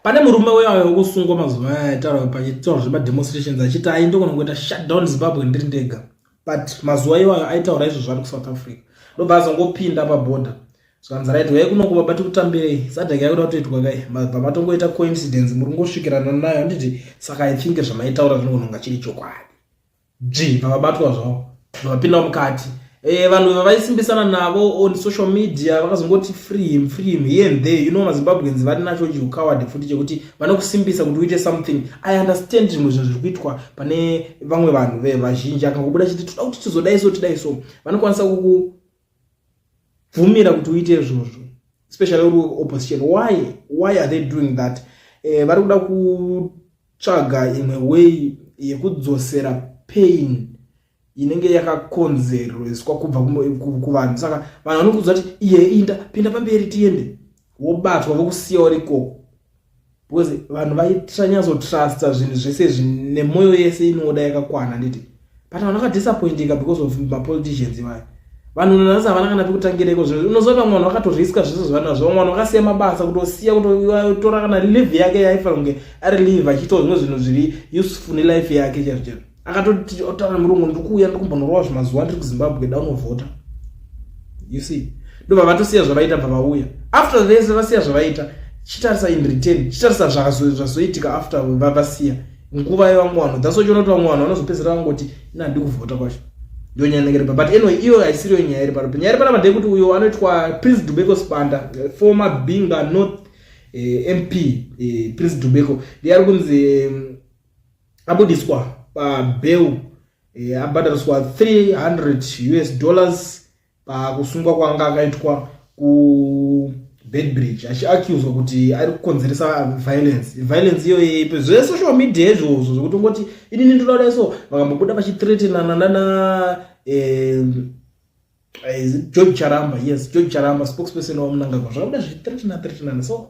pane murume uya wekusungwa mazuva aya aitaura pachitaura zvemademonstrations achiti ainde kona kuita shutdown zimbabwe ndiri ndega but mazuva iwayo aitaura izvo zvari kusouth africa ndobva azongopinda paborder zvanzi right wai kuno kubaba tikutambirei sadhaka yakuda kutoitwa kai mabva matongoita coincidence muri kungosvikirana nayo handiti saka i think zvamaitaura zvinogona kunga chiri chokwadi dzvi vakabatwa zvavo vakapinda mukati e, vanhu vavaisimbisana navo on social media vakazongoti free him free him here and there you know mazimbabweans vari nacho chiukawadi futi chekuti vanokusimbisa kuti uite something i understand zvimwe zvinhu zviri kuitwa pane vamwe vanhu vevazhinji akangobuda chiti toda kuti tizodai so tidai so vanokwanisa kuku bvumira kuti uite izvozvo especially uri opposition why why are they doing that eh, vari kuda kutsvaga imwe way yekudzosera pain inenge yakakonzerweswa kubva kuvanhu saka vanhu vanokuudza kuti iye inda pinda pamberi tiende wobatwa vokusiya uri ikoko because vanhu vaitanyazotrusta zvinhu zvese zvinemwoyo yese inoda yakakwana nditi but vanhu vakadisappointika because of mapoliticians ivaya vanhu nanasi havana kana pekutangira iko zvo unozoona vamwe vanhu vakatoriska zvese zvavanazvo vamwe vanhu vakasiya mabasa kutosiya kutotora kana live yake yaifanira kunge ari live achiitawo zvimwe zvinhu zviri useful nelife yake chaizvo chaizvo akatoti otaura murungu ndiri kuuya ndiri kumbonorova zvimazuva ndiri kuzimbabwe daunovhota you see ndobva vatosiya zvavaita bva vauya after vese vasiya zvavaita chitarisa in return chitarisa zvazoitika after vavasiya nguva yevamwe vanhu that's wachiona kuti vamwe vanhu vanozopedzera vangoti ina handi kuvhota kwacho ndiyo nyaya inenge iripa but anyway iyo haisiriyo nyaya iri panopi nyaya iri panapa ndeyekuti uyo anoitwa prince dubeko spanda eh, former binga north eh, mp eh, prince dubeko ndiye ari kunzi mm, abudiswa pabail eh, abhadhariswa 300 us dollars pakusungwa kwanga akaitwa kubedbridge achiaccuswa kuti ari kukonzeresa violence violence iyo ipe zvesocial media izvozvo zvekuti ungoti inini ndinoda so vakambobuda vachitretenana nana eh, eh, george charamba yes george charamba spokesperson wamunangagwa zvakabuda zvichitretenana tretenana so